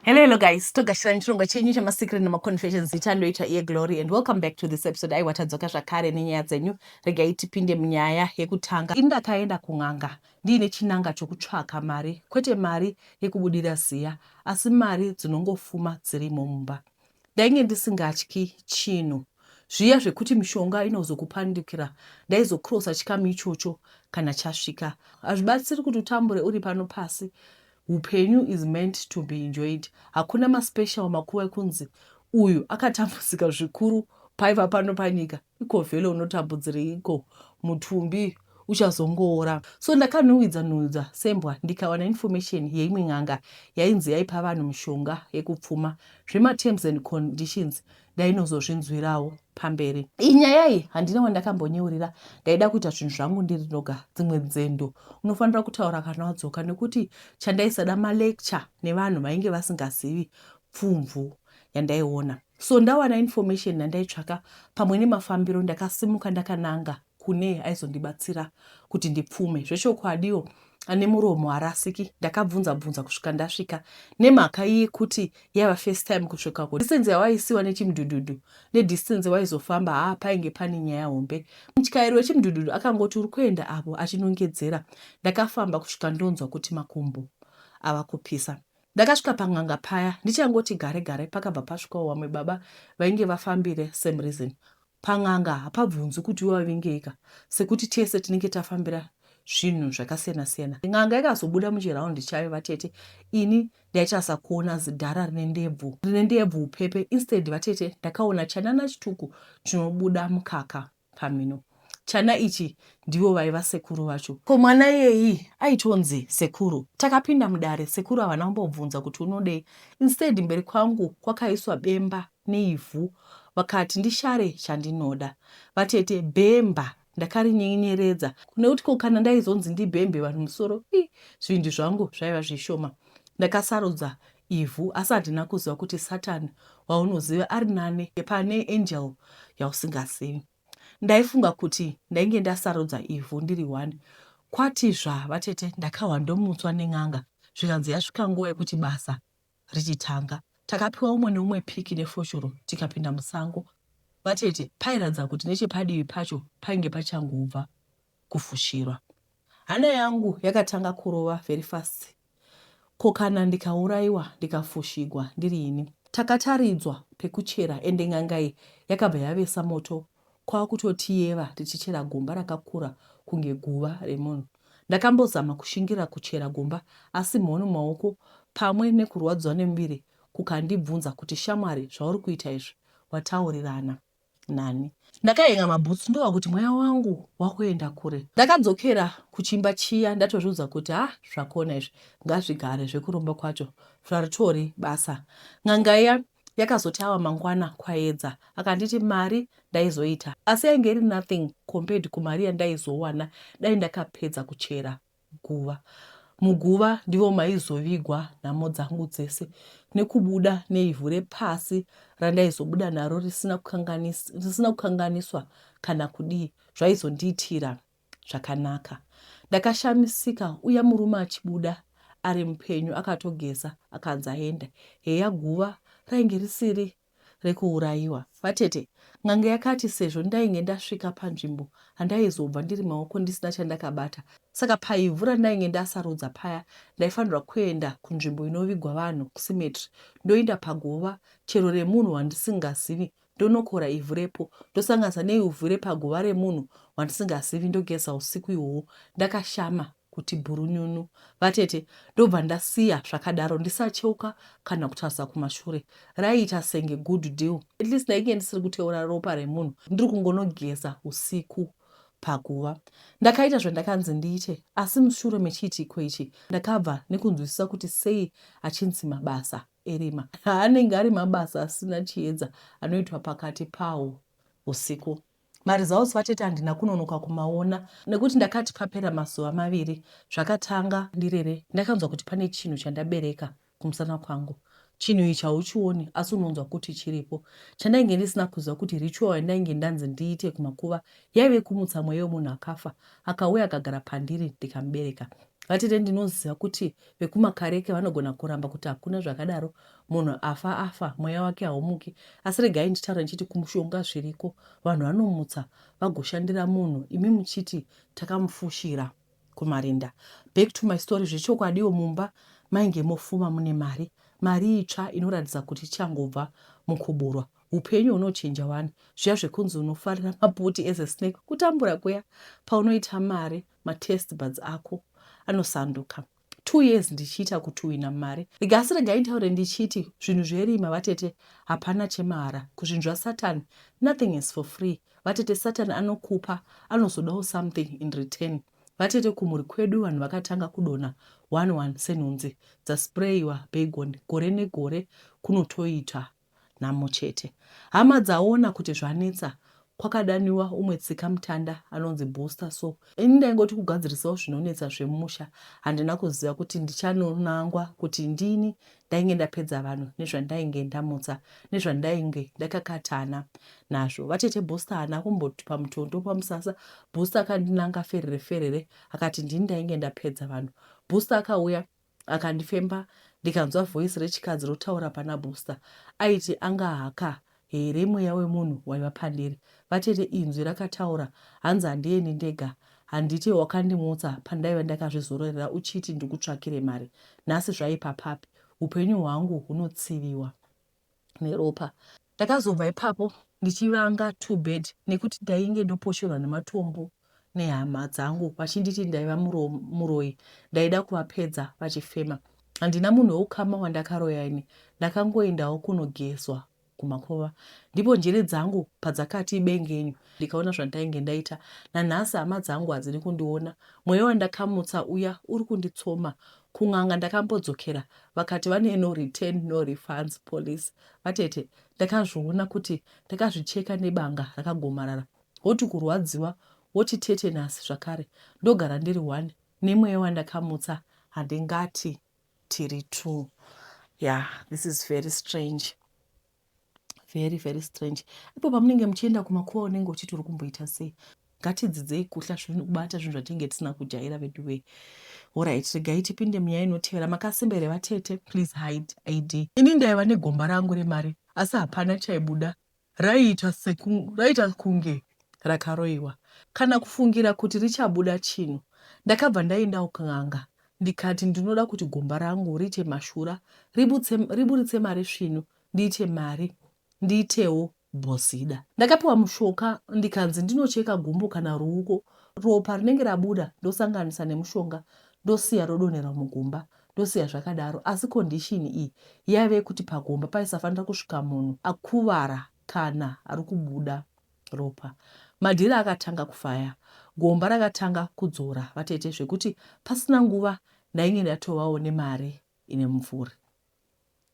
Hello, hello guys. Togashira nechirongwa chenyu chemasikiri nemaconfessions itandoita iye Glory and welcome back to this episode. Aiwa tadzoka zvakare nenyaya dzenyu. Regai tipinde munyaya yekutanga. Ini ndakaenda kun'anga ndiine chinanga chokutsvaka mari, kwete mari yekubudira ziya, asi mari dzinongofuma dzirimo mumba. Ndainge ndisingatyi chinhu. Zviya zvekuti mishonga inozokupandukira ndaizokrosa chikamu ichocho kana chasvika. Hazvibatsiri kuti utambure uri pano pasi Hupenyu is meant to be enjoyed hakuna ma special makuva ekunzi uyu akatambudzika zvikuru paiva pano panyika iko vhele unotambudzireiko mutumbi uchazongoora so ndakanhuwidza nhuwidza sembwa ndikawana information yeimwe n'anga yainzi yaipa vanhu mishonga yekupfuma zvematerms and conditions ndainozozvinzwirawo pamberi. Iyi nyaya iyi handina wandakambonyeurira, ndaida kuita zvinhu zvangu ndiri ndoga. Dzimwe nzendo unofanira kutaura kana wadzoka nekuti chandaisada malecture nevanhu vainge vasingazivi pfumvu yandaiona. So ndawana information yandaitsvaka pamwe nemafambiro ndakasimuka ndakananga kune aizondibatsira kuti ndipfume zvechokwadiwo ane muromo harasiki ndakabvunza bvunza kusvika ndasvika nemhaka yekuti yaiva first time kusvikako distance yawaisiwa nechimudhudhudhu nedistance waizofamba haa painge pane nyaya hombe mutyairi wechimudhudhudhu akangoti uri kuenda apo achinongedzera ndakafamba kusvika ndonzwa kuti makumbo ava kupisa ndakasvika pan'anga paya ndichangoti gare gare pakabva pasvikawo wamwe baba vainge vafambire same reason Pan'anga hapabvunzwi kuti iwe wavingeika sekuti tese tinenge tafambira zvinhu zvakasiyana siyana. N'anga ikazobuda muchiround chayo vatete ini ndaichasakuona zidhara rine ndebvu rine ndebvu upepe instead vatete ndakaona chanana chituku chinobuda mukaka pamhino. Chana ichi ndivo vaiva sekuru vacho. Ko mwana iyeyii aitonzi sekuru. Takapinda mudare sekuru havana kumbobvunza kuti unodei instead mberi kwangu kwakaiswa bemba neivhu vakati ndishare chandinoda vatete bhemba ndakarinyinyeredza nekuti ko kana ndaizonzi ndibhembe vanhu musoro ii zvindi zvangu zvaiva zvishoma ndakasarudza ivhu asi handina kuziva kuti satan waunoziva ari nane pane angel yausingazivi ndaifunga kuti ndainge ndasarudza ivhu ndiri one kwati zva vatete ndakahwa ndomutswa nen'anga zvikanzi yasvika nguva yekuti basa richitanga. Takapiwa umwe neumwe piki nefoshoro tikapinda musango. Vatete pairatidza kuti nechepadivi pacho painge pachangobva kufushirwa. Hana yangu yakatanga kurova very fast ko kana ndikaurayiwa ndikafushigwa ndiri ini. Takataridzwa pekuchera ende n'anga iyi yakabva yavesa moto kwakutotiyeva tichichera gomba rakakura kunge guva remunhu. Ndakambozama kushingirira kuchera gomba asi mhoni mumaoko pamwe nekurwadziwa nemuviri kukandibvunza kuti shamwari zvauri kuita izvi wataurirana nani. Ndakahen'a mabhutsu ndova kuti mweya wangu wakuenda kure. Ndakadzokera kuchimba chiya ndatozviudza kuti ha zvakona izvi ngazvigare zvekuromba kwacho zvaritori basa. N'anga iya Yakazoti ava mangwana Kwayedza akanditi mari ndaizoita asi yainge iri nothing compared kumari yandaizowana dai ndakapedza kuchera guva. Muguva ndivo maizovigwa nhamo dzangu dzese nekubuda neivhu repasi randaizobuda naro risina kukanganiswa kana kudii zvaizondiitira zvakanaka. Ndakashamisika uya murume achibuda ari mupenyu akatogeza akanzi aenda. Heya guva rainge risiri rekuurayiwa. Vatete, n'anga yakati sezvo ndainge ndasvika panzvimbo handaizobva ndiri maoko ndisina chandakabata saka paivhu randainge ndasarudza paya ndaifanirwa kuenda kunzvimbo inovigwa vanhu kusimetri ndoinda paguva chero remunhu wandisingazivi ndonokora ivhu repo ndosanganisa neivhu repaguva remunhu wandisingazivi ndogeza usiku ihwohwo ndakashama kuti bhurunyunu vatete ndobva ndasiya zvakadaro ndisacheuka kana kutarisa kumashure raiita senge good deal at least ndainge ndisiri kuteura ropa remunhu ndiri kungonogeza usiku paguva ndakaita zvandakanzi ndiite asi mushure mechiitiko ichi ndakabva nekunzwisisa kuti sei achinzi mabasa erima anenge ari mabasa asina chiedza anoitwa pakati pawo usiku maresults vatete handina kunonoka kumaona nekuti ndakati papera mazuva maviri zvakatanga ndirere ndakanzwa kuti pane chinhu chandabereka kumusana kwangu chinhu ichi hauchioni asi unonzwa kuti chiripo chandainge ndisina kuziva kuti ritual yandainge ndanzi ndiite kumakuva yaive kumutsa mweya wemunhu akafa akauya akagara pandiri ndikamubereka vatete ndinoziva kuti vekumakareke vanogona kuramba kuti hakuna zvakadaro munhu afa afa mweya wake haumuki asi regai nditaura ndichiti kumushonga zviriko vanhu vanomutsa vagoshandira munhu imi muchiti takamufushira kumarinda back to my story zvechokwadiwo mumba mainge mofuma mune mari mari itsva inoratidza kuti ichangobva mukuburwa upenyu hunochinja wani zviya zvekunzi unofarira maputi as a snake kutambura kuya paunoita mari matest buds ako anosanduka two years ndichiita kutuhwina mari rigasi regai nditaure ndichiti zvinhu zverima vatete hapana chemahara kuzvinhu zvasatan nothing is for free vatete satan anokupa anozodawo something in return vatete kumhuri kwedu vanhu vakatanga kudona one one senhunzi dzasprayiwa bagon gore negore kunotoita nhamo chete. Hama dzaona kuti zvanetsa kwakadaniwa umwe tsikamutanda anonzi Booster so ini ndaingoti kugadzirisawo zvinonetsa zvemusha handina kuziva kuti ndichanonangwa kuti ndini ndainge ndapedza vanhu nezvandainge ndamutsa nezvandainge ndakakatana nazvo. Vatete Booster haana kumboti pamutondo pamusasa Booster akandinanga ferere ferere akati ndini ndainge ndapedza vanhu. Booster akauya Akandifemba ndikanzwa voice rechikadzi rotaura pana Buster aiti anga haka here mweya wemunhu waiva pandiri. Vatete inzwi rakataura hanzi handiendi ndega handiti wakandimutsa pandaiva ndakazvizororera uchiti ndikutsvakire mari nhasi zvaipa papi upenyu hwangu hunotsiviwa. neropa. Ndakazobva ipapo ndichivanga two bed nekuti ndainge ndoposhorwa nematombo nehama dzangu vachinditi ndaiva muroyi ndaida kuvapedza vachifema. Handina munhu weukama wandakaroya ini ndakangoendawo kunogezwa kumakova ndipo njere dzangu padzakati bengenyu ndikaona zvandainge ndaita. Nanhasi hama dzangu hadzidi kundiona mweya wandakamutsa uya uri kunditsoma Kun'anga ndakambodzokera vakati vane no return no refunds policy. Vatete ndakazviona kuti ndakazvicheka nebanga rakagomarara woti kurwadziwa woti tetenus zvakare ndogara ndiri one nemweya wandakamutsa handingati tiri two. Yah this is very strange. very very strange ipo pamunenge muchienda kumakuva unenge uchiti uri kumboita sei ngatidzidzei kuhla zvinhu kubata zvinhu zvatinenge tisina kujaira vedu vee orit regai tipinde munyaya inotevera makasimba here vatete please hide id ini ndaiva negomba rangu remari asi hapana chaibuda raiita seku raiita kunge rakaroiwa kana kufungira kuti richabuda chinhu ndakabva ndaendawo kun'anga Ndikati ndinoda kuti gomba rangu riite mashura, ributse, riburitse mari svinu, ndiite mari, ndiitewo bhozida. Ndakapiwa mushoka ndikanzi ndinocheka gumbo kana ruuko, ropa rinenge rabuda ndosanganisa nemushonga ndosiya rodonhera mugumba ndosiya zvakadaro asi condition iyi yaive kuti pagomba paisafanira kusvika munhu akuvara kana ari kubuda Ropa. Madhiri akatanga kufaya. Gomba rakatanga kudzora vatete zvekuti pasina nguva ndainge ndatovawo nemari ine mumvuri.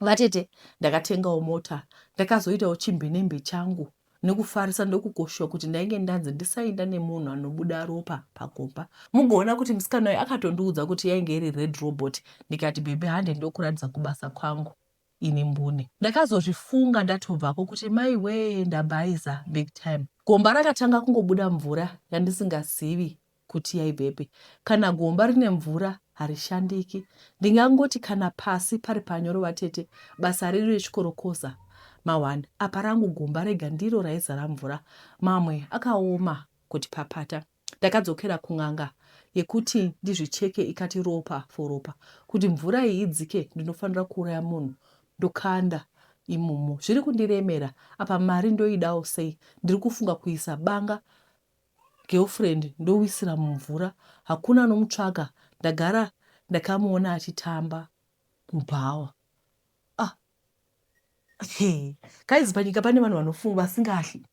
Vatete ndakatengawo mota ndakazoitawo chimbinembi changu nekufarisa ndokukoshiwa kuti ndainge ndanzi ndisainda nemunhu anobuda ropa pagomba. Mugoona kuti musikana uyu akatondiudza kuti yainge iri red robot ndikati bhebhi hande ndokuratidza kubasa kwangu. ini mbune. Ndakazozvifunga ndatobvako kuti maiwee ndabhaiza big time. Gomba rakatanga kungobuda mvura yandisingazivi kuti yaibvepi. Kana gomba rine mvura harishandiki. Ndingangoti kana pasi pari panyoro vatete basa redu rechikorokoza mahwani apa rangu gomba rega ndiro raizara mvura mamwe akaoma kuti papata. Ndakadzokera kun'anga yekuti ndizvicheke ikati ropa for ropa kuti mvura iyi idzike ndinofanira kuuraya munhu ndokanda imomo zviri kundiremera apa mari ndoidawo sei ndiri kufunga kuisa banga girlfriend ndowisira mumvura hakuna anomutsvaga ndagara ndakamuona achitamba mubhawa ah. hey. guys panyika pane vanhu vanofunga vasingahli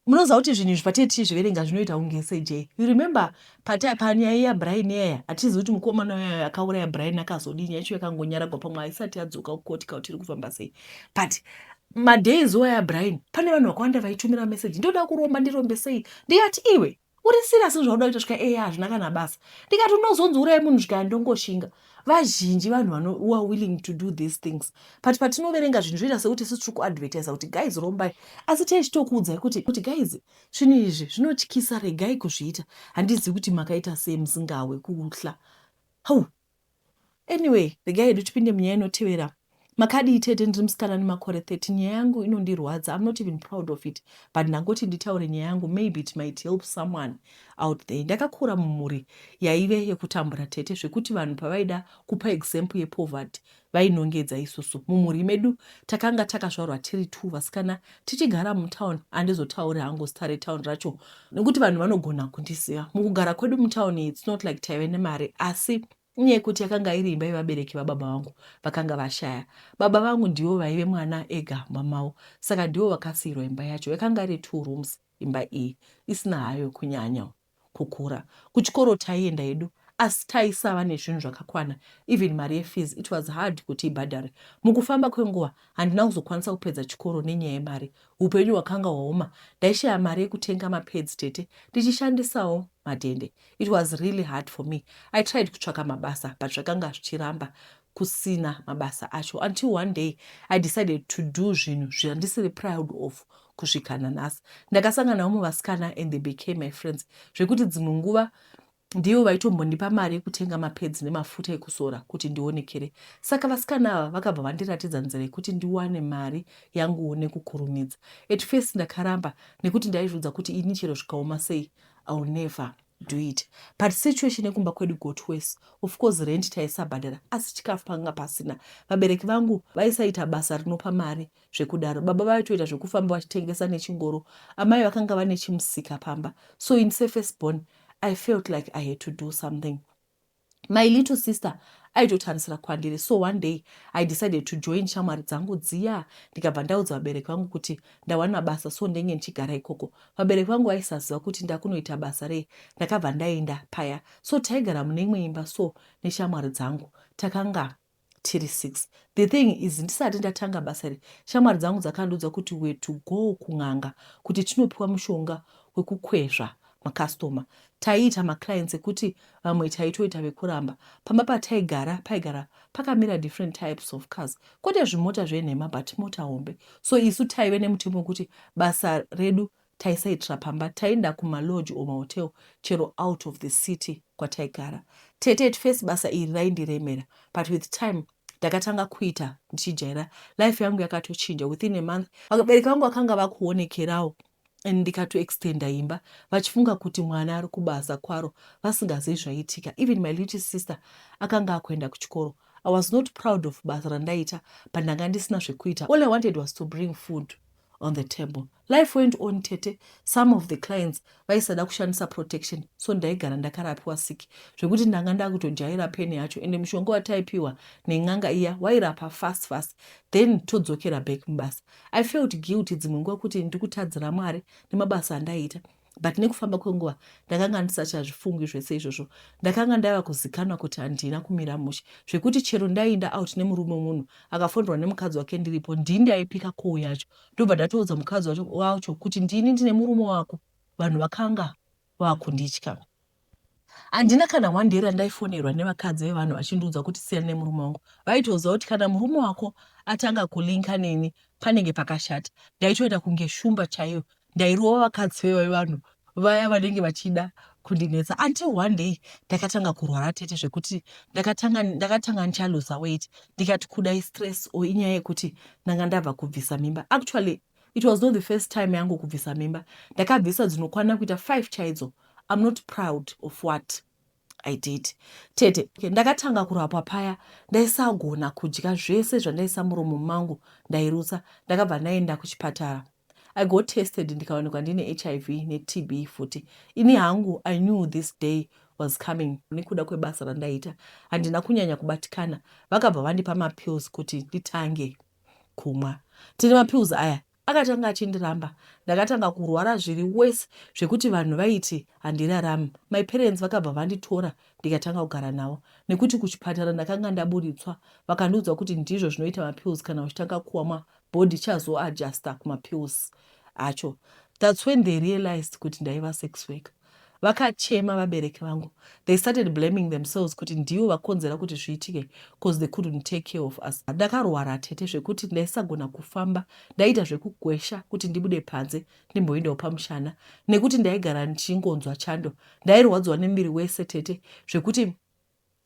munoziva kuti zvinhu izvi patie tichizviverenga zvinoita kunge sejee you remember panyaya yabrian yaya hatizivi kuti mukomana uyayo akauraya brian akazodii nyaya yacho yakangonyaragwa pamwe haisati yadzoka kukoti ka kuti iri kufamba sei but madays waya brian pane vanhu vakawanda vaitumira meseji ndoda kuromba ndirombe sei ndiyati iwe uri serious nezvauda kuita svika eya hazvina kana basa ndikati unozonzi urai munhu svika ndongoshinga vazhinji vanhu vanowa willing to do these things but patinoverenga zvinhu zvoita sekuti sisi tiri kuadvertisa kuti guys rombai asi tee chitokuudzai kuti kuti guys zvinhu izvi zvinotyisa regai kuzviita handizivi kuti makaita sei musingawe kuhla hau Anyway, regai hedu tipinde munyaya inotevera. Makadii tete, ndiri musikana ane makore 13. Nyaya yangu inondirwadza. I'm not even proud of it, but ndangoti nditaure nyaya yangu, maybe it might help someone out there. Ndakakura mumhuri yaive yekutambura tete zvekuti vanhu pavaida kupa example yepoverty vainongedza isusu mumhuri medu takanga takazvarwa tiri two vasikana tichigara mutown andizotauri hangu zita retown racho nekuti vanhu vanogona kundiziva mukugara kwedu mutown its not like taive nemari asi inyaya yekuti yakanga iri imba yevabereki vababa vangu vakanga vashaya baba vangu ndivo vaive mwana ega mamavo saka ndivo vakasiirwa imba yacho yakanga iri two rooms imba iyi isina hayo kunyanya kukura kuchikoro taienda hedu asi taisava nezvinhu zvakakwana even mari yefees it was hard kuti ibhadhare mukufamba kwenguva handina kuzokwanisa kupedza chikoro nenyaya yemari upenyu hwakanga hwaoma ndaishaya mari yekutenga mapads tete ndichishandisawo madhende it was really hard for me i tried kutsvaka mabasa but zvakanga zvichiramba kusina mabasa acho until one day i decided to do zvinhu zvandisiri proud of kusvika nanhasi ndakasangana vamwe vasikana and they became my friends zvekuti dzimwe nguva ndivo vaitombondipa mari yekutenga mapedzi nemafuta ekuzora kuti ndionekere saka vasikana ava vakabva vandiratidza nzira yekuti ndiwane mari yanguwo nekukurumidza at first ndakaramba nekuti ndaizviudza kuti ini chero zvikaoma sei ill never do it but situation yekumba kwedu got worse of course rent taisabhadhara asi chikafu panga pasina vabereki vangu vaisaita basa rinopa mari zvekudaro baba vaitoita zvekufamba vachitengesa nechingoro amai vakanga vane chimusika pamba so in safest born i felt like i had to do something My little sister aitotarisira kwandiri so one day I decided to join shamwari dzangu dziya ndikabva ndaudza vabereki vangu kuti ndawana basa so ndenge ndichigara ikoko. Vabereki vangu vaisaziva kuti ndakunoita basa rei ndakabva ndaenda paya so taigara mune imwe imba so neshamwari dzangu takanga tiri six the thing is ndisati ndatanga basa iri shamwari dzangu dzakandiudza kuti we to go kun'anga kuti tinopiwa mushonga wekukwezva makastoma taiita maclients ekuti vamwe taitoita vekuramba pamba pataigara paigara pakamira different types of cars kwete zvimota zvenhema but mota hombe so isu taive nemutemo wekuti basa redu taisaitira pamba taienda kuma lodge or mahotel chero out of the city kwataigara tete at first basa iri raindiremera but with time ndakatanga kuita ndichijaira life yangu yakatochinja within a month vabereki vangu vakanga vakuonekerawo and ndikatoextenda imba vachifunga kuti mwana ari kubasa kwaro vasingazivi zvaiitika even my little sister akanga akuenda kuchikoro i was not proud of basa randaita but ndanga ndisina zvekuita all i wanted was to bring food on the table life went on tete some of the clients vaisada kushandisa protection so ndaigara ndakarapiwa siki zvekuti ndanga ndakutojaira peni yacho ende mushonga wataipiwa nen'anga iya wairapa fast fast then todzokera back mubasa i felt guilty dzimwe nguva kuti ndikutadzira mwari nemabasa andaiita but nekufamba kwenguva ndakanga ndisachazvifungwi zvese izvozvo ndakanga ndava kuzikanwa kuti handina kumira mushe zvekuti chero ndaiinda out nemurume munhu akafonderwa nemukadzi wake ndiripo ndii ndaipika koo yacho ndobva ndatoudza mukadzi wacho kuti ndini ndine murume wako vanhu vakanga vakunditya Handina kana one day randaifonerwa nevakadzi vevanhu vachindiudza kuti siyana nemurume wangu. Vaitoziva kuti kana murume wako atanga kulinka neni panenge pakashata. Ndaitoita kunge shumba chaiyo. Ndairova vakadzi vevanhu vaya vanenge vachida kundinetsa until one day ndakatanga kurwara tete zvekuti ndakatanga ndakatanga ndichaluza weight ndikati kuda istress or inyaya yekuti ndanga ndabva kubvisa mimba actually It was not the first time yangu kubvisa mimba. Ndakabvisa dzinokwana kuita five chaidzo. I'm not proud of what I did. Tete, okay, ndakatanga kurapwa paya ndaisagona kudya zvese zvandaisa muromo mangu ndairutsa. Ndakabva ndaenda kuchipatara. I got tested ndikawanikwa ndine HIV neTB futi. Ini hangu I knew this day was coming nekuda kwebasa randaiita handina kunyanya kubatikana vakabva vandipa mapills kuti nditange kumwa tine mapills aya akatanga achindiramba ndakatanga kurwara zviri worse zvekuti vanhu vaiti handirarami my parents vakabva vanditora ndikatanga kugara navo nekuti kuchipatara ndakanga ndaburitswa vakandiudza kuti ndizvo zvinoita mapills kana uchitanga kuamwa body chazoadjusta kumapills acho that's when they realized kuti ndaiva sex worker Vakachema vabereki vangu. They started blaming themselves kuti ndivo vakonzera kuti zviitike cause they couldn't take care of us. Ndakarwara tete zvekuti ndaisagona kufamba, ndaiita zvekukwesha kuti ndibude panze ndimboendawo pamushana nekuti ndaigara ndichingonzwa chando. Ndairwadziwa nemuviri wese tete zvekuti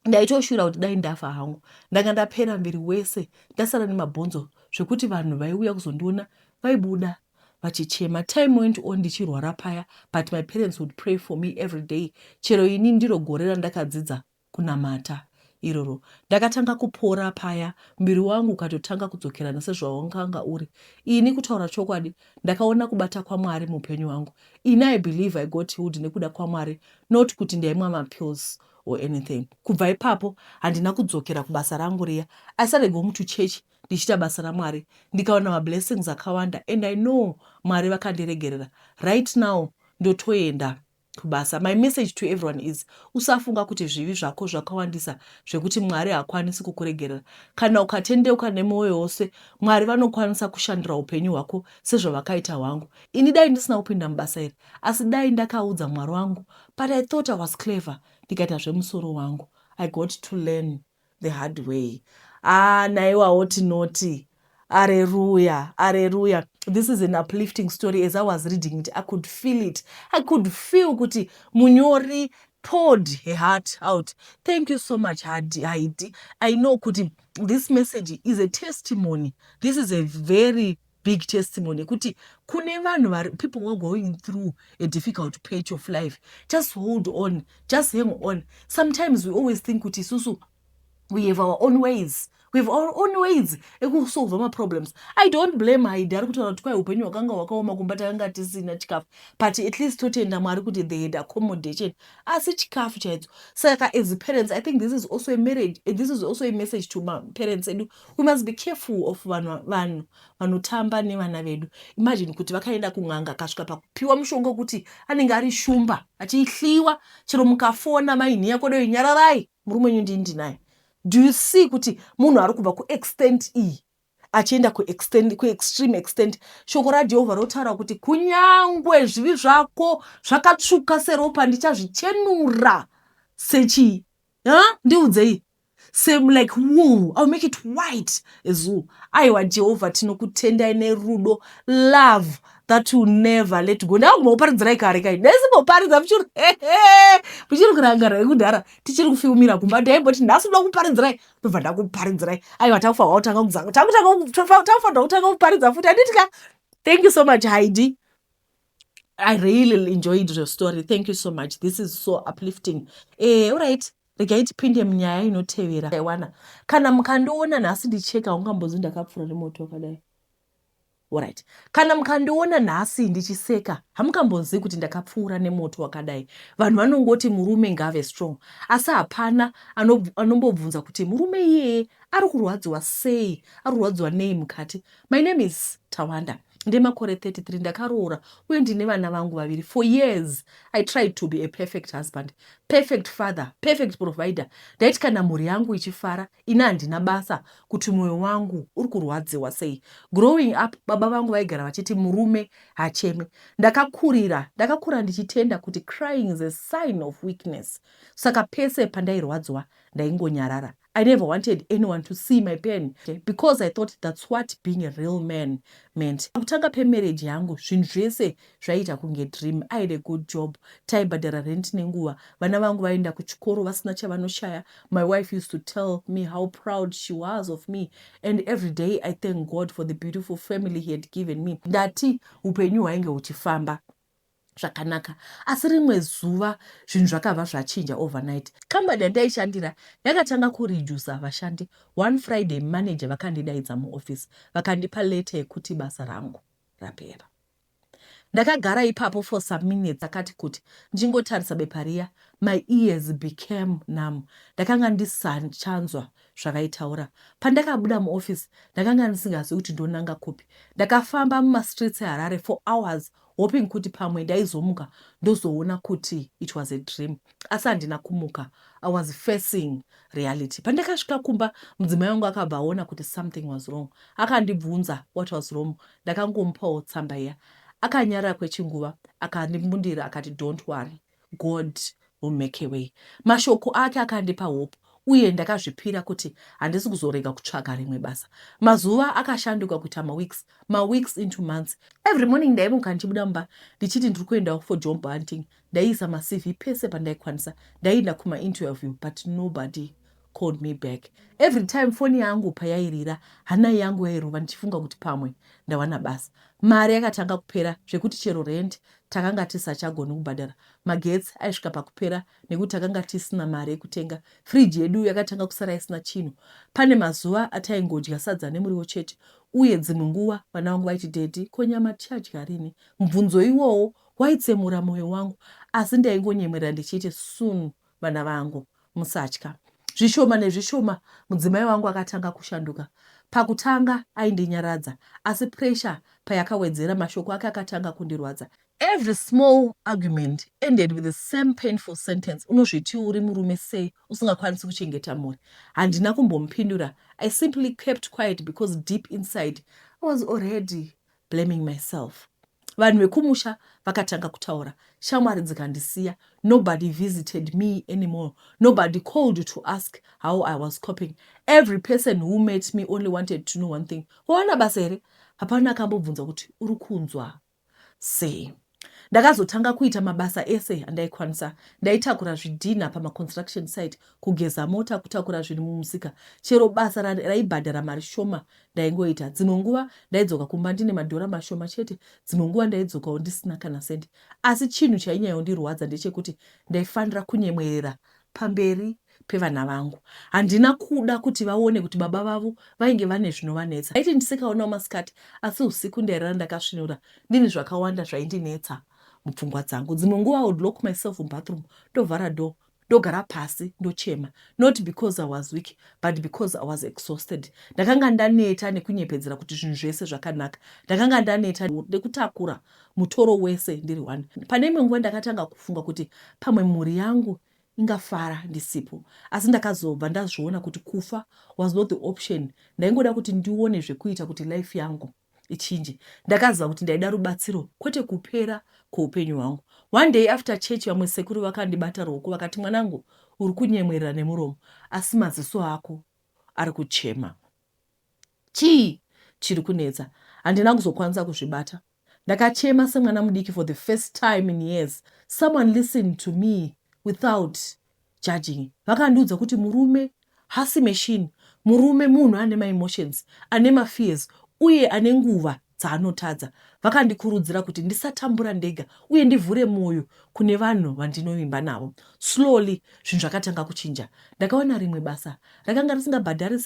ndaitoshura kuti dai ndafa hangu ndanga ndapera mviri wese ndasara nemabhonzo zvekuti vanhu vaiuya kuzondiona vaibuda vachichema time went on ndichirwara paya but my parents would pray for me every day chero ini ndiro gore randakadzidza kunamata iroro ndakatanga kupora paya muviri wangu ukatotanga kudzokerana sezvawanganga uri ini kutaura chokwadi ndakaona kubata kwamwari muupenyu wangu ini i believe i got healed nekuda kwamwari not kuti ndaimwa mapills so or anything kubva ipapo handina kudzokera kubasa rangu riya i started going to church ndichiita basa ramwari ndikawana mablessings akawanda and i know mwari vakandiregerera right now ndotoenda kubasa my message to everyone is usafunga kuti zvivi zvako zvakawandisa zvekuti mwari hakwanisi kukuregerera kana ukatendeuka nemwoyo wose mwari vanokwanisa kushandira upenyu hwako sezvavakaita hwangu ini dai ndisina kupinda mubasa iri asi dai ndakaudza mwari wangu but I thought I was clever ndikaita zvemusoro wangu I got to learn the hard way haa ah, naiwawo tinoti areruya areruya this is an uplifting story as i was reading it i could feel it i could feel kuti munyori poured her heart out thank you so much hadi haidi i know kuti this message is a testimony this is a very big testimony yekuti kune vanhu vari people were going through a difficult patch of life just hold on just hang on sometimes we always think kuti isusu we have our own ways we have our own ways ekusolva maproblems i don't blame haidi ari kutaura kuti kwai upenyu hwakanga hwakaoma kumba takanga tisina chikafu but at least totenda mwari kuti they had accommodation asi chikafu chaidzo saka as parents i think this is also a marriage this is also a message to maparents edu We must be careful of vanhu vanhu vanotamba nevana vedu. Imagine kuti vakaenda kun'anga akasvika pakupiwa mushonga wekuti anenge ari shumba achihliwa chero mukafona mai nhiya kodoi nyararai murume wenyu ndini ndinaye. Do you see kuti munhu ari kubva kuextent iyi achienda kuextent kuextreme extent shoko raJehovha rotaura kuti kunyangwe zvivi zvako zvakatsvuka seropa ndichazvichenura sechii? Huh? Ndiudzei. same like wool ill make it white as wool aiwa jehovha tinokutendai nerudo love that will never let go ndava kumboparidzirai kare kai ndaisimboparidza muchiri hehe muchiri kurangara yekudhara tichiri kufiumira kumba ndaimboti nhasi ndoda kuparidzirai ndobva ndakuparidzirai aiwa takufanirwa kutanga kuzanga takufanirwa kutanga kuparidza futi handiti ka thank you so much haidi i really enjoyed your story thank you so much this is so uplifting eh, all right regai tipinde munyaya inotevera aiwana kana mukandiona nhasi ndicheka ungambozi ndakapfura nemoto wakadai orit kana mukandiona nhasi ndichiseka hamukambonzii kuti ndakapfuura nemoto wakadai vanhu vanongoti murume ngaave strong asi hapana anombobvunza kuti murume iyeye ari kurwadziwa sei ari kurwadziwa nei mukati my name is tawanda Ndemakore 33 ndakaroora uye ndine vana vangu vaviri. For years I tried to be a perfect husband, perfect father, perfect provider. Ndaiti kana mhuri yangu ichifara, ini handina basa kuti mwoyo wangu uri kurwadziwa sei. Growing up, baba vangu vaigara vachiti murume hacheme. Ndakakurira, ndakakura ndichitenda kuti crying is a sign of weakness. Saka pese pandairwadziwa ndaingonyarara. I never wanted anyone to see my pain because I thought that's what being a real man meant. Pakutanga pemarriage yangu zvinhu zvese zvaiita kunge dream. I had a good job, taibhadhara rent nenguva, vana vangu vaienda kuchikoro vasina chavanoshaya. My wife used to tell me how proud she was of me and every day I thank God for the beautiful family he had given me. Ndati upenyu hwainge huchifamba. zvakanaka asi rimwe zuva zvinhu zvakabva zvachinja overnight. Kambani yandaishandira yakatanga kureducer vashandi. One Friday manager vakandidaidza muoffice vakandipa letter yekuti basa rangu rapera. Ndakagara ipapo for some minutes akati kuti ndingotarisa bepa riya. My ears became numb. Ndakanga ndisachanzwa zvavaitaura. Pandakabuda muoffice ndakanga ndisingazivi kuti ndonanga kupi. Ndakafamba mumastreets eHarare for hours hoping kuti pamwe ndaizomuka ndozoona kuti it was a dream asi handina kumuka i was facing reality pandakasvika kumba mudzimai wangu akabva aona kuti something was wrong akandibvunza what was wrong ndakangomupawo tsamba iya akanyarara kwechinguva akandimbundira akati don't worry God will make a way. Mashoko ake akandipa hope uye ndakazvipira kuti handisi kuzorega kutsvaga rimwe basa. Mazuva akashanduka kuita maweeks, maweeks into months. Every morning ndaimuka ndichibuda mumba ndichiti ndiri kuendawo for job hunting. Ndaiisa maCV pese pandaikwanisa. Ndaienda kumainterview but nobody called me back every time foni yangu payairira hana yangu yairova ndichifunga kuti pamwe ndawana basa mari yakatanga kupera zvekuti chero rent takanga tisachagoni kubhadhara magetsi aisvika pakupera nekuti takanga tisina mari yekutenga friji yedu yakatanga kusara isina chinhu pane mazuva ataingodya sadza nemuriwo chete uye dzimwe nguva vana vangu vaiti dedi ko nyama tichadya rini mubvunzo iwowo waitsemura mwoyo wangu asi ndaingonyemwerera ndichiiti soon Vana vangu, musatya. Zvishoma nezvishoma mudzimai wangu akatanga kushanduka. Pakutanga aindinyaradza asi pressure payakawedzera mashoko ake akatanga kundirwadza. Every small argument ended with the same painful sentence, unozvitii uri murume sei usingakwanisi kuchengeta mhuri? Handina kumbomupindura, I simply kept quiet because deep inside I was already blaming myself vanhu vekumusha vakatanga kutaura shamwari dzikandisiya nobody visited me anymore nobody called to ask how i was coping every person who met me only wanted to know one thing wawana basa here hapana akambobvunza kuti uri kunzwa sei Ndakazotanga kuita mabasa ese andaikwanisa. Ndaitakura zvidhinha pamaconstruction site, kugeza mota, kutakura zvinhu mumusika. Chero basa raibhadhara mari shoma ndaingoita. Dzimwe nguva ndaidzoka kumba ndine madhora mashoma chete, dzimwe nguva ndaidzokawo ndisina kana sendi. Asi chinhu chainyayondirwadza ndechekuti ndaifanira kunyemwerera pamberi pevana vangu. Handina kuda kuti vaone kuti baba vavo vainge vane zvinovanetsa. Ndaiti ndisikaonawo masikati asi usiku ndairara ndakasvinura ndine zvakawanda zvaindinetsa mupfungwa dzangu. Dzimwe nguva I would lock myself mubathroom ndovhara door ndogara pasi ndochema not because I was weak but because I was exhausted. Ndakanga ndaneta nekunyepedzera kuti zvinhu zvese zvakanaka. Ndakanga ndaneta nekutakura mutoro wese ndiri one. Pane imwe nguva ndakatanga kufunga kuti pamwe mhuri yangu ingafara ndisipo asi ndakazobva ndazviona kuti kufa was not the option ndaingoda kuti ndione zvekuita kuti life yangu ichinje ndakaziva kuti ndaida rubatsiro kwete kupera kweupenyu hwangu one day after church vamwe sekuru vakandibata ruoko vakati mwanangu uri kunyemwerera nemuromo asi maziso ako ari kuchema chii chiri kunetsa handina kuzokwanisa kuzvibata Ndakachema semwana mudiki for the first time in years someone listened to me without judging. Vakandiudza kuti murume hasi machine, murume munhu ane maemotions, ane mafears uye ane nguva dzaanotadza. Vakandikurudzira kuti ndisatambura ndega uye ndivhure mwoyo kune vanhu vandinovimba navo. Slowly zvinhu zvakatanga kuchinja. Ndakawana rimwe basa rakanga risingabhadhari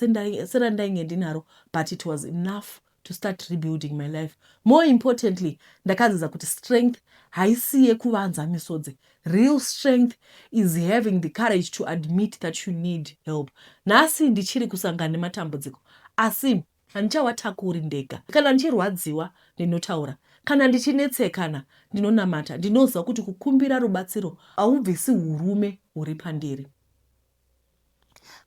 serandainge ndinaro but it was enough to start rebuilding my life more importantly ndakadzidza kuti strength haisi yekuvanza misodzi real strength is having the courage to admit that you need help nhasi ndichiri kusangana nematambudziko asi handichawatakuri ndega kana ndichirwadziwa ndinotaura kana ndichinetsekana ndinonamata ndinoziva kuti kukumbira rubatsiro haubvisi urume huri pandiri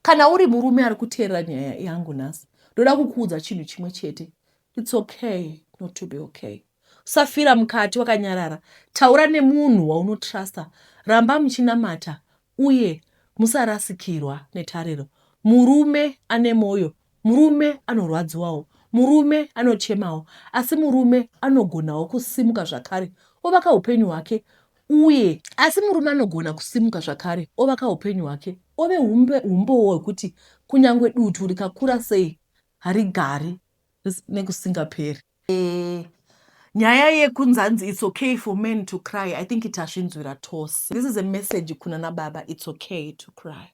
kana uri murume ari kuteerera nyaya yangu nhasi ndoda kukuudza chinhu chimwe chete its okay not to be okay usafira mukati wakanyarara taura nemunhu waunotrusta ramba muchinamata uye musarasikirwa netariro murume ane mwoyo Murume anorwadziwawo, murume anochemawo, asi murume anogonawo kusimuka zvakare ovaka upenyu hwake uye. Asi murume anogona kusimuka zvakare ovaka upenyu hwake ove humbowo hwekuti kunyangwe dutu rikakura sei harigari nekusingaperi. Eeh nyaya yekunzanzi it's okay for men to cry i think tasvinzwira tose. This is a message kunana baba it's okay to cry.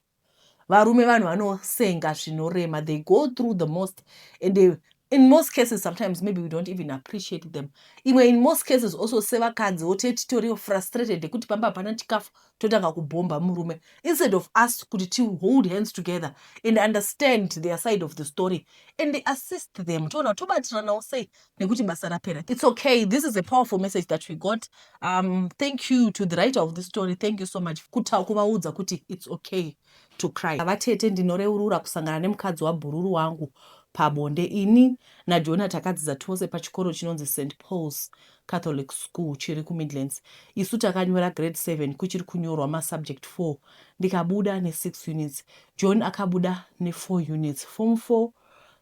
Varume vanhu vanosenga zvinorema they go through the most and they, in most cases sometimes maybe we don't even appreciate them imwe in most cases also sevakanzi wote titoriwo frustrated nekuti pamba hapana chikafu totanga kubhomba murume instead of us kuti ti hold hands together and understand their side of the story and assist them toona tobatiranawo sei nekuti basa rapera its okay this is a powerful message that we got um, thank you to the writer of this story thank you so much kuta kuvaudza kuti its okay to cry vatete ndinoreurura kusangana nemukadzi wabhururu wangu pabonde ini najona takadzidza tose pachikoro chinonzi st pauls catholic school chiri kumidlands isu takanyora grade 7 kuchiri kunyorwa masubject 4 ndikabuda ne6 units john akabuda ne4 units form 4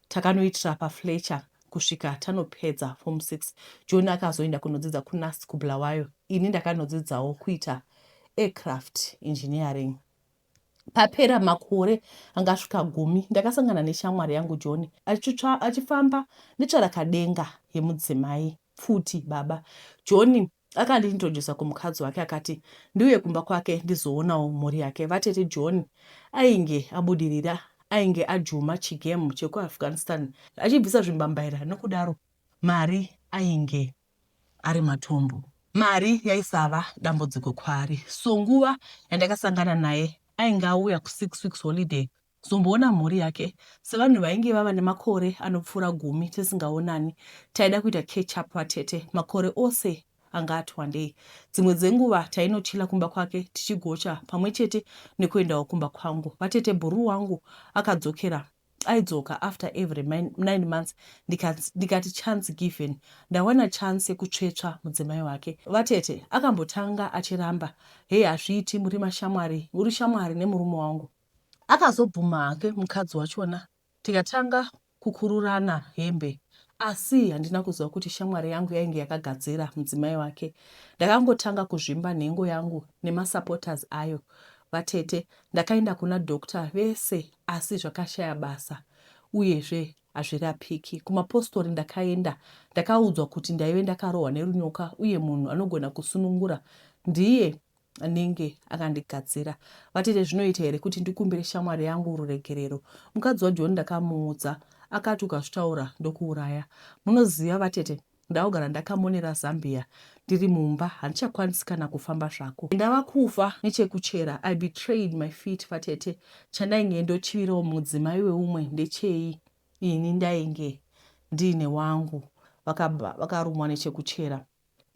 takanoitira pafletcher kusvika tanopedza form six john akazoenda kunodzidza kunast kubulawayo ini ndakanodzidzawo kuita aircraft engineering papera makore angasvika gumi ndakasangana neshamwari yangu john achifamba netsvarakadenga yemudzimai pfuti baba john Akandintroducer kumukadzi wake akati ndiuye kumba kwake ndizoonawo mhuri yake. Vatete John ainge abudirira ainge ajuma chigemu chekuAfghanistan achibvisa zvimbambaira nokudaro mari ainge ari matumbu. Mari yaisava dambudziko kwaari so nguva yandakasangana naye ainge auya kusix weeks holiday kuzomboona mhuri yake sevanhu vainge vava nemakore anopfuura gumi tisingaonani. Taida kuita catch up vatete, makore ose anga ati wandei. Dzimwe dzenguva tainochila kumba kwake tichigocha pamwe chete nekuendawo kumba kwangu. Vatete bhuruu wangu akadzokera aidzoka after every nine months ndikati, ndikati chance given ndawana chance yekutsvetsva mudzimai wake. Vatete akambotanga achiramba, hey hazviiti muri mashamwari, uri shamwari nemurume wangu. Akazobvuma hake mukadzi wachona tikatanga kukururana hembe asi handina kuziva kuti shamwari yangu yainge yakagadzira mudzimai wake. Ndakangotanga kuzvimba nhengo yangu nemasupporters ayo. Vatete ndakaenda kuna doctor vese asi zvakashaya basa uyezve hazvirapiki. Kumapostori ndakaenda ndakaudzwa kuti ndaive ndakarohwa nerunyoka uye munhu anogona kusunungura ndiye anenge akandigadzira vatete zvinoita here kuti ndikumbire shamwari yangu ruregerero mukadzi wajoni ndakamuudza akati ukazvitaura ndokuuraya munoziva vatete ndakugara ndakamonera zambia ndiri mumba handichakwanisi kana kufamba zvako ndava kufa nechekuchera i betrayed my feet vatete chandainge ndochivirawo mudzimai weumwe ndechei ini ndainge ndiine wangu vakarumwa nechekuchera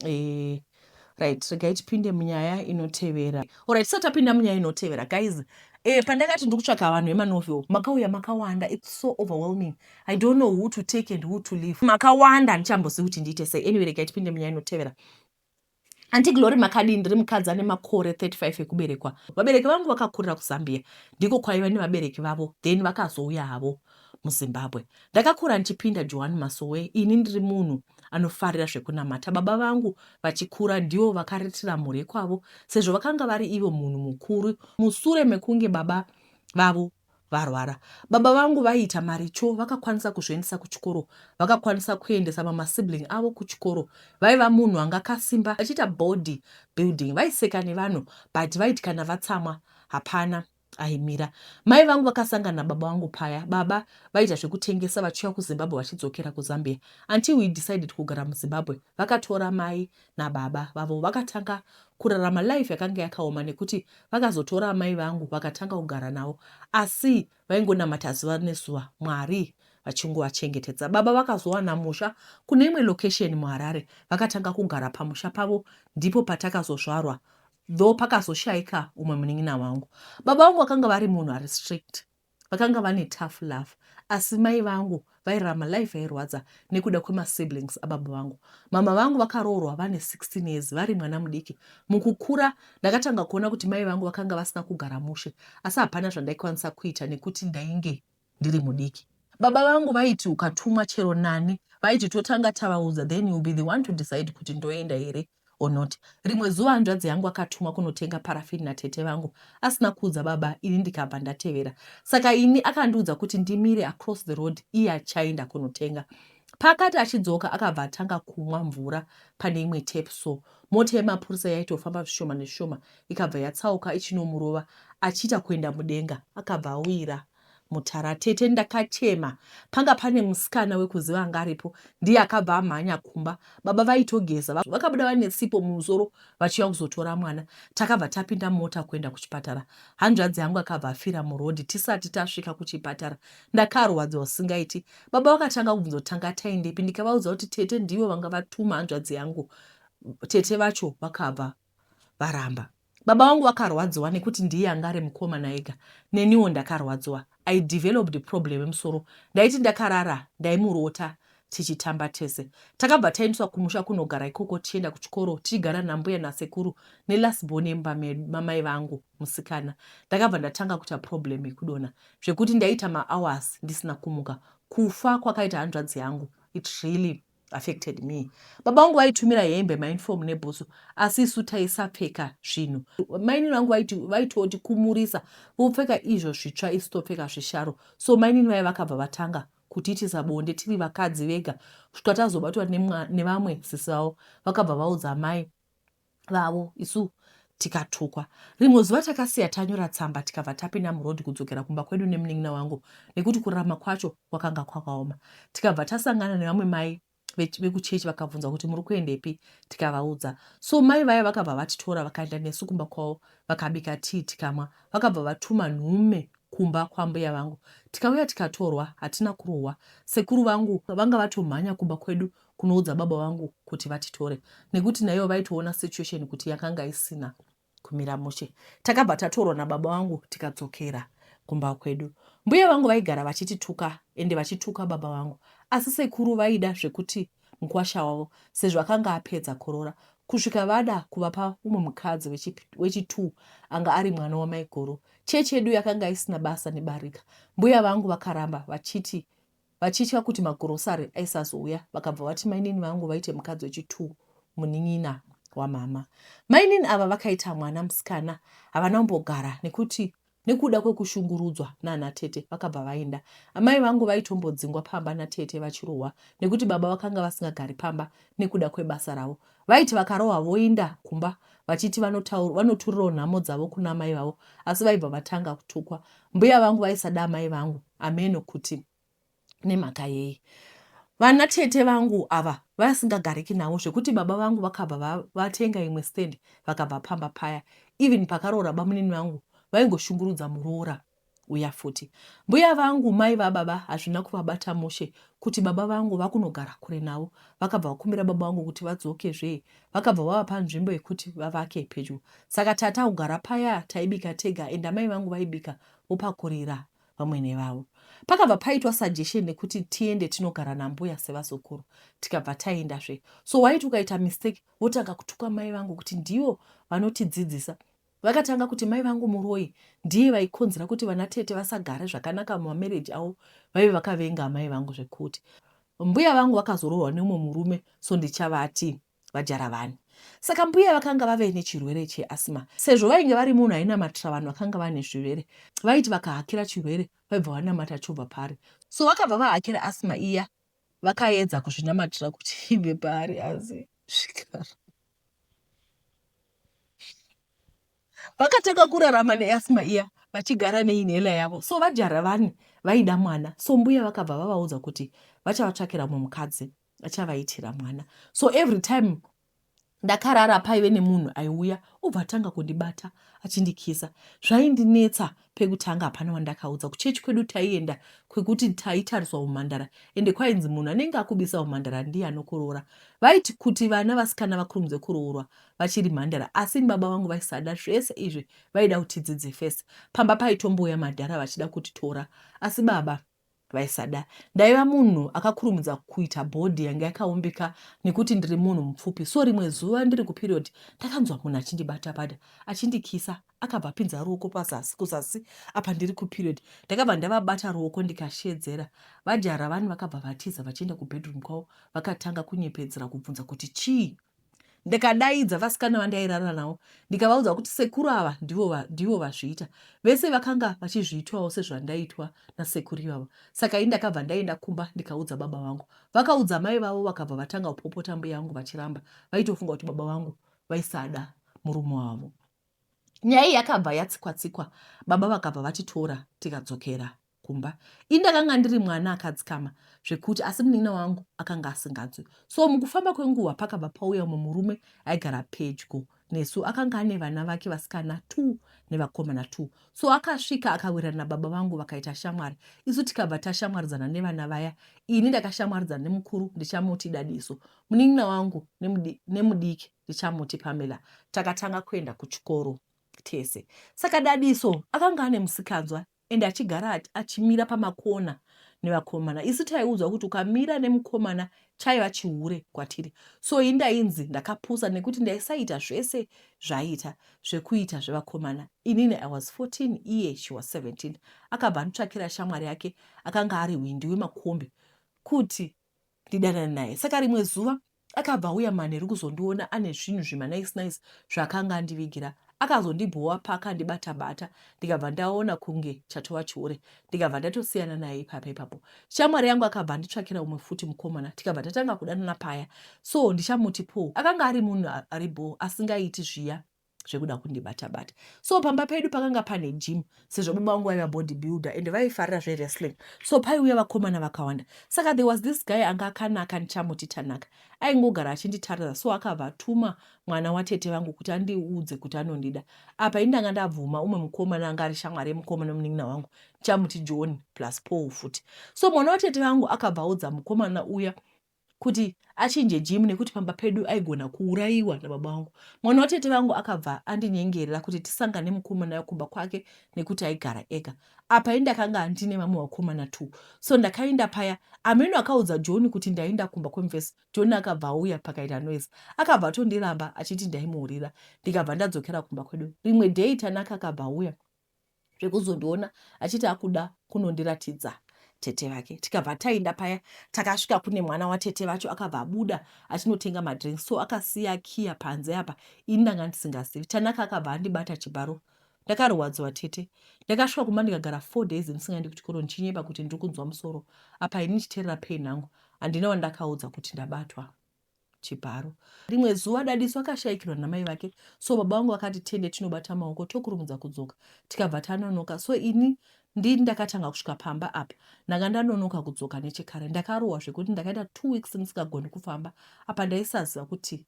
eh, right regai tipinde munyaya inotevera orit tisati tapinda munyaya inotevera guys eh, pandakati ndiri kutsvaka vanhu vemanovel makauya makawanda its so overwhelming i don't know who to take and who to leave makawanda handichambozivi kuti ndiite sei anyway regai tipinde munyaya inotevera anti glory makadii ndiri mukadzi ane makore 35 ekuberekwa vabereki vangu vakakurira kuzambia ndiko kwaiva nevabereki vavo then vakazouya havo muZimbabwe. Ndakakura ndichipinda Johani Masowe ini ndiri munhu anofarira zvekunamata. Baba vangu vachikura ndivo vakaritira mhuri yekwavo sezvo vakanga vari ivo munhu mukuru musure mekunge baba vavo varwara. Baba vangu vaiita maricho vakakwanisa kuzviendesa kuchikoro, vakakwanisa kuendesa mama sibling avo kuchikoro. Vaiva munhu anga akasimba vachiita body building. Vaiseka nevanhu but vaiti kana vatsamwa hapana Aimira mai vangu vakasangana nababa vangu paya. Baba vaita zvekutengesa vachiuya kuZimbabwe vachidzokera kuZambia until we decided kugara muZimbabwe. Vakatora mai nababa vavo vakatanga kurarama life yakanga yakaoma nekuti vakazotora amai vangu vakatanga kugara navo asi vaingonamata zuva nezuva Mwari vachingovachengetedza. Baba vakazowana musha kune imwe location muHarare vakatanga kugara pamusha pavo ndipo patakazozvarwa Though pakazoshaika umwe munin'ina wangu. Baba vangu vakanga vari munhu ari strict. Vakanga vane tough love. Asi mai vangu vairarama life yairwadza nekuda kwemasiblings ababa vangu. Mama vangu vakaroorwa vane 16 years vari mwana mudiki. Mukukura ndakatanga kuona kuti mai vangu vakanga vasina kugara mushe. Asi hapana zvandaikwanisa kuita nekuti ndainge ndiri mudiki. Baba vangu vaiti ukatumwa chero nani vaiti totanga tavaudza then you'll be the one to decide kuti ndoenda here or not. Rimwe zuva hanzvadzi yangu akatumwa kunotenga paraffin natete vangu asina kuudza baba ini ndikabva ndatevera. Saka ini akandiudza kuti ndimire across the road iye achaenda kunotenga. Paakati achidzoka akabva atanga kumwa mvura pane imwe tap so mota yemapurisa yaitofamba zvishoma nezvishoma ikabva yatsauka ichinomurova achiita kuenda mudenga akabva awira mutara tete ndakachema panga pane musikana wekuziva anga aripo ndiye akabva amhanya kumba baba vaitogeza vakabuda vane sipo mumusoro vachiuya kuzotora mwana takabva tapinda mota kuenda kuchipatara hanzvadzi yangu akabva afira murodhi tisati tasvika kuchipatara ndakarwadziwa usingaiti baba vakatanga kubvunzotanga taindepi ndikavaudza kuti tete ndivo vanga vatuma hanzvadzi yangu tete vacho vakabva varamba. Baba vangu vakarwadziwa nekuti ndiye anga ari mukomana ega neniwo ndakarwadziwa. I developed problem yemusoro ndaiti ndakarara ndaimurota tichitamba tese. Takabva taendeswa kumusha kunogara ikoko tichienda kuchikoro tichigara nambuya nasekuru nelast born yemumba mamai vangu musikana. Ndakabva ndatanga kuita problem yekudona zvekuti ndaita mahours ndisina kumuka. Kufa kwakaita hanzvadzi yangu it really affected me baba vangu vaitumira hembe mainform nebhutsu asi isu taisapfeka zvinhu mainini vangu vaitoti kumurisa vopfeka izvo zvitsva isu topfeka zvisharo so mainini vaye vakabva vatanga kutiitisa bonde tiri vakadzi vega kusvika tazobatwa nevamwe sisi vavo vakabva vaudza mai vavo isu tikatukwa rimwe zuva takasiya tanyora tsamba tikabva tapinda muroad kudzokera kumba kwedu nemunin'ina wangu nekuti kurama kwacho kwakanga kwakaoma tikabva tasangana nevamwe mai vekuchechi vakabvunza kuti muri kuendepi tikavaudza so mai vaya vakabva vatitora vakaenda nesu kumba kwavo vakabika tii tikamwa vakabva vatuma nhume kumba kwambuya vangu tikauya tikatorwa hatina kurohwa sekuru vangu vanga vatomhanya kumba kwedu kunoudza baba vangu kuti vatitore nekuti naivo vaitoona situation kuti yakanga isina kumira mushe takabva tatorwa nababa vangu tikadzokera kumba kwedu mbuya vangu vaigara vachitituka ende vachituka baba vangu asi sekuru vaida zvekuti mukwasha wavo sezvo akanga apedza korora kusvika vada kuvapa umwe mukadzi wechitu anga ari mwana wamaiguru chechi yedu yakanga isina basa nebarika mbuya vangu vakaramba vachiti Vachitya kuti magrocery aisazouya vakabva vati mainini vangu vaite mukadzi wechi two munin'ina wamhamha. Mainini ava vakaita mwana musikana havana kumbogara nekuti nekuda kwekushungurudzwa nana tete vakabva vaenda. Amai vangu vaitombodzingwa pamba natete vachirohwa nekuti baba vakanga vasingagari pamba nekuda kwebasa ravo. Vaiti vakarohwa voinda kumba vachiti vanotaur, vanoturirawo nhamo dzavo kuna amai vavo asi vaibva vatanga kutukwa. Mbuya vangu vaisada amai vangu hameno kuti nemhaka yei. Vana tete vangu ava vasingagariki navo zvekuti baba vangu vakabva va, vatenga imwe stand vakabva pamba paya. Even pakaroora bamunini vangu vaingoshungurudza muroora uya futi. Mbuya vangu mai vababa hazvina kuvabata mushe kuti baba vangu vakunogara kure navo. Vakabva vakumbira baba vangu kuti vadzoke zvee. Vakabva vavapa nzvimbo yekuti vavake pedyo. Saka tata kugara paya taibika tega and amai vangu vaibika vopakurira vamwene vavo. Pakabva paitwa suggestion nekuti tiende tinogara nambuya sevazukuru. Tikabva taenda zvee. So waiti ukaita mistake votanga kutuka mai vangu kuti ndivo vanotidzidzisa Vakatanga kuti mai vangu muroyi ndiye vaikonzera kuti vana tete vasagare zvakanaka mumamarriage avo vaive vakavenga amai vangu zvekuti. Mbuya vangu vakazoroorwa neumwe murume so ndichavati vajaravani. Saka mbuya vakanga vave nechirwere cheasthma. Sezvo vainge vari munhu ainamatira vanhu vakanga vane zvirwere vaiti vakahakira chirwere vaibva vanamata chobva pari. So vakabva vahakira asthma iya vakaedza kuzvinamatira kuti ibve paari asi zvikara vakatanga kurarama neasma iya vachigara neinhela yavo so vajaravani vaida mwana so mbuya vakabva vavaudza kuti vachavatsvakira mumwe mukadzi achavaitira mwana so every time Ndakarara paive nemunhu aiuya obva atanga kundibata achindikisa. Zvaindinetsa pekutanga hapana wandakaudza. Kuchechi kwedu taienda kwekuti taitariswa humhandara ende kwainzi munhu anenge akubisa humhandara ndiye anokoroora. Vaiti kuti vana vasikana vakurumidze kuroorwa vachiri mhandara asi baba vangu vaisada zvese izvi vaida kuti tidzidze first. Pamba paitombouya madhara vachida kutitora asi baba vaisada ndaiva munhu akakurumidza kuita bhodhi yange yakaumbika nekuti ndiri munhu mupfupi so rimwe zuva ndiri kuperiod ndakanzwa munhu achindibata bada achindikisa akabva apinza ruoko pazasi kuzasi apa ndiri kuperiod ndakabva ndavabata ruoko ndikashedzera vajara vani vakabva vatiza vachienda kubedroom kwavo vakatanga kunyepedzera kubvunza kuti chii Ndikadaidza vasikana vandairara navo ndikavaudza kuti sekuru ava ndivo, va, ndivo vazviita. Vese vakanga vachizviitwawo sezvandaitwa nasekuru ivavo. Saka ini ndakabva ndaenda kumba ndikaudza baba vangu. Vakaudza mai vavo vakabva vatanga kupopota mbuya vangu vachiramba. Vaitofunga kuti baba vangu vaisada murume wavo. Nyaya iyi yakabva yatsikwa-tsikwa, baba vakabva vatitora tikadzokera kumba ini ndakanga ndiri mwana akadzikama zvekuti asi munin'ina wangu akanga asinganzwi so mukufamba kwenguva pakabva pauya umwe murume aigara pedyo nesu akanga ane vana vake vasikana two nevakomana two so akasvika akawirana nababa vangu vakaita shamwari isu tikabva tashamwaridzana nevana vaya ini ndakashamwaridzana nemukuru ndichamuti dadiso munin'ina wangu nemudiki ndichamuti pamela takatanga kuenda kuchikoro tese saka dadiso akanga ane musikanzwa and achigara ati achimira pamakona nevakomana isu taiudzwa kuti ukamira nemukomana chaiva chihure kwatiri so i ndainzi ndakapusa nekuti ndaisaita zvese zvaiita zvekuita zvevakomana inini i was 14 iye she was 17 akabva andotsvakira shamwari yake akanga ari hwindi wemakombi kuti ndidanane naye saka rimwe zuva akabva auya manheru kuzondiona ane zvinhu zvemanice nice zvaakanga andivigira akazondibhowa paakandibata bata ndikabva ndaona kunge chatova chihure ndikabva ndatosiyana naye ipapo ipapo shamwari yangu akabva anditsvakira umwe futi mukomana tikabva tatanga kudanana paya so ndichamuti po akanga ari munhu ari bho asingaiti zviya zvekuda kundibata bata so pamba pedu pakanga pane gym sezvo baba vangu vaiva body builder and vaifarira zvewrestling so paiuya vakomana vakawanda saka there was this guy anga akanaka ndichamuti tanaka aingogara achinditarira so akavatuma mwana watete vangu kuti andiudze kuti anondida apa indanga ndabvuma umwe mukomana anga ari shamwari yemukomana munin'ina wangu ndichamuti john plus paul futi so mwana watete vangu akabva audza mukomana uya kuti achinje gym nekuti pamba pedu aigona kuurayiwa nababa vangu. Mwana watete vangu akabva andinyengerera kuti tisangane mukomana wekumba kwake nekuti aigara ega. Apa ini ndakanga ndine vamwe vakomana two. So ndakainda paya, ameno akaudza John kuti ndainda kumba kwemufesi. John akabva auya pakaita noise. Akabva atondiramba achiti ndaimuhurira. Ndikabva ndadzokera kumba kwedu. Rimwe day Tanaka akabva auya. zvekuzondiona achiti akuda kunondiratidza tete vake tikabva taenda paya takasvika kune mwana watete vacho akabva abuda achinotenga madrinks so akasiya kiya panze apa ini ndanga ndisingazivi tanaka akabva andibata chibharo ndakarwadziwa tete ndakasvika kumba ndikagara four days ndisingaendi kuchikoro ndichinyepa kuti ndiri kunzwa musoro apa ini ndichiterera pain hangu handina wandakaudza kuti ndabatwa chibharo. Rimwe zuva Dadiso akashaikirwa namai vake so baba vangu vakati tiende tinobata maoko tokurumudza kudzoka tikabva tanonoka so ini ndi ndakatanga kusvika pamba apa ndanga ndanonoka kudzoka nechekare ndakarohwa zvekuti ndakaita two weeks ndisingagoni kufamba apa ndaisaziva kuti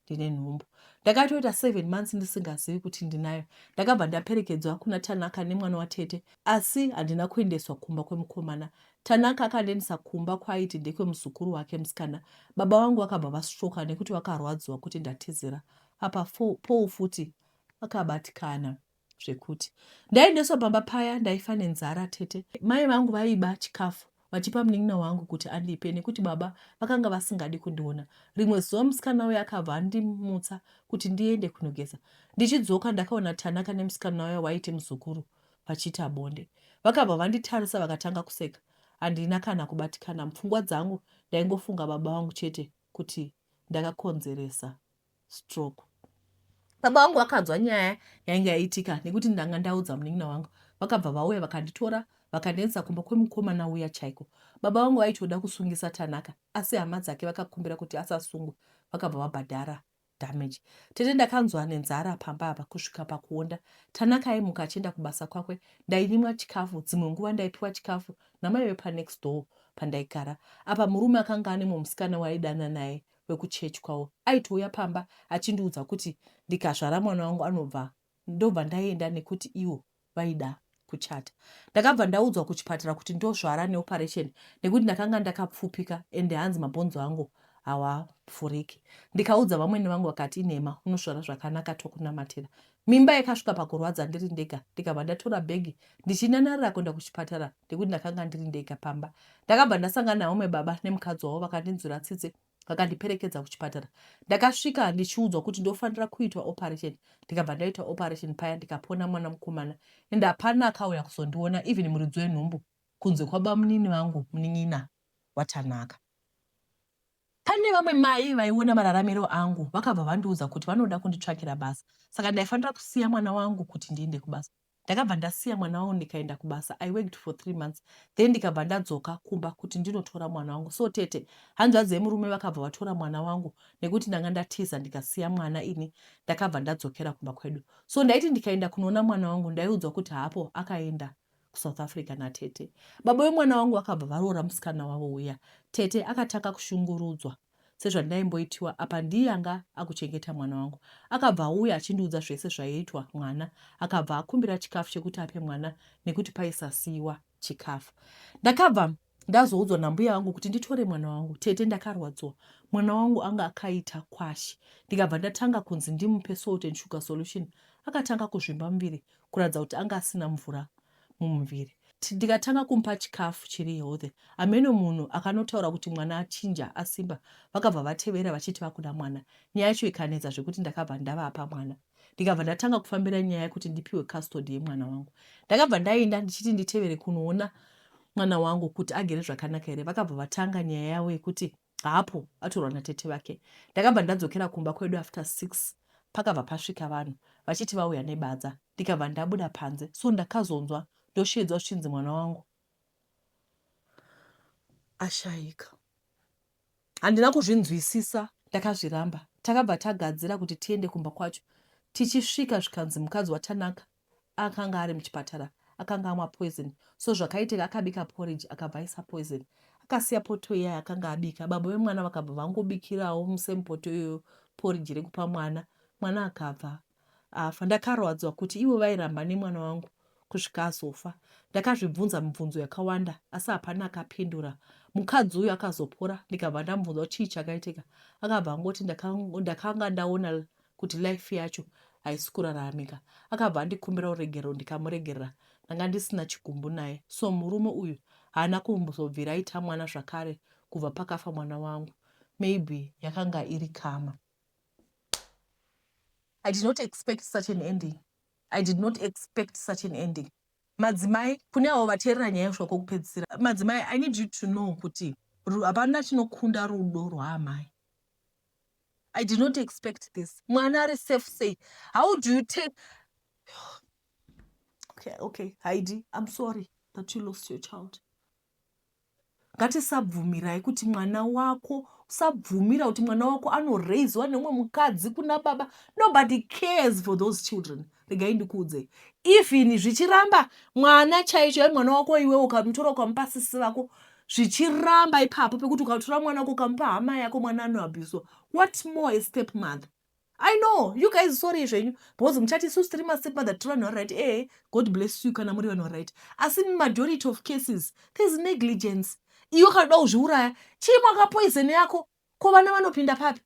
ndine nhumbu ndakatoita seven months ndisingazivi kuti ndinayo ndakabva ndaperekedzwa kuna tanaka nemwana watete asi handina kuendeswa kumba kwemukomana Tanaka akandiendesa kumba kwaaiti ndekwemuzukuru wake musikana. Baba vangu vakabva vasvoka nekuti vakarwadziwa kuti ndatizira. Apa Paul futi akabatikana zvekuti. Ndaendeswa pamba paya ndaifa nenzara tete. Mai vangu vaiba chikafu vachipa munin'ina wangu kuti andipe nekuti baba vakanga vasingadi kundiona. Rimwe zuva musikana uya akabva andimutsa kuti ndiende kunogeza. Ndichidzoka ndakaona Tanaka nemusikana uya waiti muzukuru vachiita bonde. Vakabva vanditarisa vakatanga kuseka. Handina kana kubatikana mupfungwa dzangu ndaingofunga baba vangu chete kuti ndakakonzeresa stroke. Baba vangu vakanzwa nyaya yainge yaitika nekuti ndanga ndaudza munin'ina wangu. Vakabva vauya vakanditora vakandiendesa kumba kwemukomana uya chaiko. Baba vangu vaitoda kusungisa Tanaka asi hama dzake vakakumbira kuti asasungwe vakabva vabhadhara damage tete ndakanzwa nenzara pamba apa kusvika pakuonda tanaka aimuka achienda kubasa kwakwe ndainyimwa chikafu dzimwe nguva ndaipiwa chikafu namai vepanext door pandaigara apa murume akanga ane mumusikana waidana naye wekuchechi kwavo aitouya pamba achindiudza kuti ndikazvara mwana wangu anobva ndobva ndaienda nekuti iwo vaida kuchata ndakabva ndaudzwa kuchipatara kuti ndozvara neoperation nekuti ndakanga ndakapfupika ende hanzi mabhonzo angu hawapfuriki ndikaudza vamwene vangu vakati inhema unosvara zvakanaka tokunamatira mimba yakasvika pakurwadza ndiri ndega ndikabva ndatora bhegi ndichinanarira kuenda kuchipatara nekuti ndakanga ndiri ndega pamba ndakabva ndasangana naumwe baba nemukadzi wavo vakandinzwira tsitsi vakandiperekedza kuchipatara ndakasvika ndichiudzwa kuti ndofanira kuitwa operation ndikabva ndaitwa operation paya ndikapona mwana mukomana and hapana akauya kuzondiona even muridzi wenhumbu kunze kwabamunini vangu munin'ina watanaka pane vamwe mai vaiona mararamiro angu vakabva vandiudza kuti vanoda kunditsvakira basa saka ndaifanira kusiya mwana wangu kuti ndiende kubasa ndakabva ndasiya mwana wangu ndikaenda kubasa i worked for three months then ndikabva ndadzoka kumba kuti ndinotora mwana wangu so tete hanzvadzi yemurume vakabva vatora mwana wangu nekuti ndanga ndatiza ndikasiya mwana ini ndakabva ndadzokera kumba kwedu so ndaiti ndikaenda kunoona mwana wangu ndaiudzwa kuti hapo akaenda kusouth africa natete baba vemwana wangu vakabva varoora musikana wavo uya tete akatanga kushungurudzwa sezvandaimboitiwa apa ndiye anga akuchengeta mwana wangu akabva auya achindiudza zvese zvaiitwa mwana akabva akumbira chikafu chekuti ape mwana nekuti paisasiiwa chikafu ndakabva ndazoudzwa nambuya vangu kuti nditore mwana wangu tete ndakarwadziwa mwana wangu anga akaita kwashi ndikabva ndatanga kunzi ndimupe salt and sugar solution akatanga kuzvimba muviri kuratidza kuti anga asina mvura mumuviri. Ndikatanga kumupa chikafu chiri healthy hameno munhu akanotaura kuti mwana achinja asimba vakabva vatevera vachiti vakuda mwana nyaya yacho ikanetsa zvekuti ndakabva ndavapa mwana ndikabva ndatanga kufambira nyaya yekuti ndipiwe custody yemwana wangu ndakabva ndaenda ndichiti nditevere kunoona mwana wangu kuti agere zvakanaka here vakabva vatanga nyaya yavo yekuti Haapo, atorwa natete vake. Ndakabva ndadzokera kumba kwedu after six pakabva pasvika vanhu vachiti vauya nebadza ndikabva ndabuda panze so ndakazonzwa ndosheedzwa zvichinzi mwana wangu ashaika. Handina kuzvinzwisisa ndakazviramba. Takabva tagadzira kuti tiende kumba kwacho. Tichisvika zvikanzi mukadzi waTanaka akanga ari muchipatara akanga amwa poison so zvakaitika akabika porridge akabva aisa poison akasiya poto iya yakanga abika baba vemwana vakabva vangobikirawo musame poto iyoyo porridge rekupa mwana mwana akabva afa ndakarwadzwa kuti ivo vairamba nemwana wangu kusvika azofa ndakazvibvunza mibvunzo yakawanda asi hapana akapindura mukadzi uyu akazopora ndikabva ndamubvunza kuti chii chakaitika akabva angoti ndakanga ndaona kuti life yacho haisi kuraramika akabva andikumbira uregerero ndikamuregerera ndanga ndisina chigumbu naye so murume uyu haana kumbozobvira aita mwana zvakare kubva pakafa mwana wangu maybe yakanga iri kama i did not expect such an ending i did not expect such an ending madzimai kune avo vateerera nyaya yosvika kwokupedzisira madzimai i need you to know kuti hapana chinokunda rudo rwaamai i did not expect this mwana ari safe sei how do you take okay, okay. haidi im sorry that you lost your child ngatisabvumirai kuti mwana wako usabvumira kuti mwana wako anoraiziwa neumwe mukadzi kuna baba nobody cares for those children regai ndikuudze even zvichiramba mwana chaicho yai mwana wako iwe ukamutora ukamupasisi vako zvichiramba ipapo pekuti ukatora mwana wako ukamupa hama yako mwana anoabuswa what more a step mother i know you guys sorry zvenyu because muchati isu tiri mastep mother tiri vanhu varight ee eh, god bless you kana muri vanhu varight asi majority of cases thereis negligence iwe kanoda kuzviuraya chii mwakapoizeni yako ko vana vanopinda papi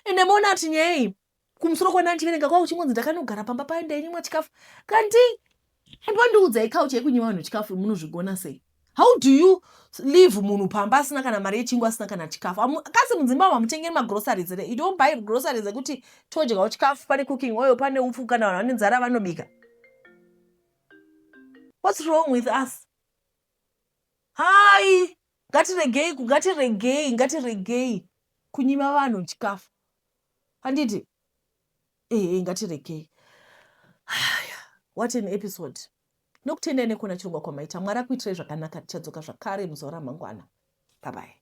ende moona kuti nyaya iyi kumusoro kwana ndichiverenga kwavo chingonzi ndakanogara pamba paye ndainyimwa chikafu kanti and wandiudzai kauch yekunyima vanhu chikafu munozvigona sei how do you leave munhu pamba asina kana mari yechingu asina kana chikafu kasi mudzimba mamutengeri magroceries re you don't buy groceries ekuti todyawo chikafu pane cooking oil pane upfu kana vanhu vane nzara vanobika what's wrong with us Hayi ngatiregei ngatiregei ngatiregei kunyima vanhu chikafu handiti ehe ngatiregei haya what an episode nokutendai nekuona chirongwa kwamaita mwari akuitirai zvakanaka tichadzoka zvakare muzuva ramangwana babai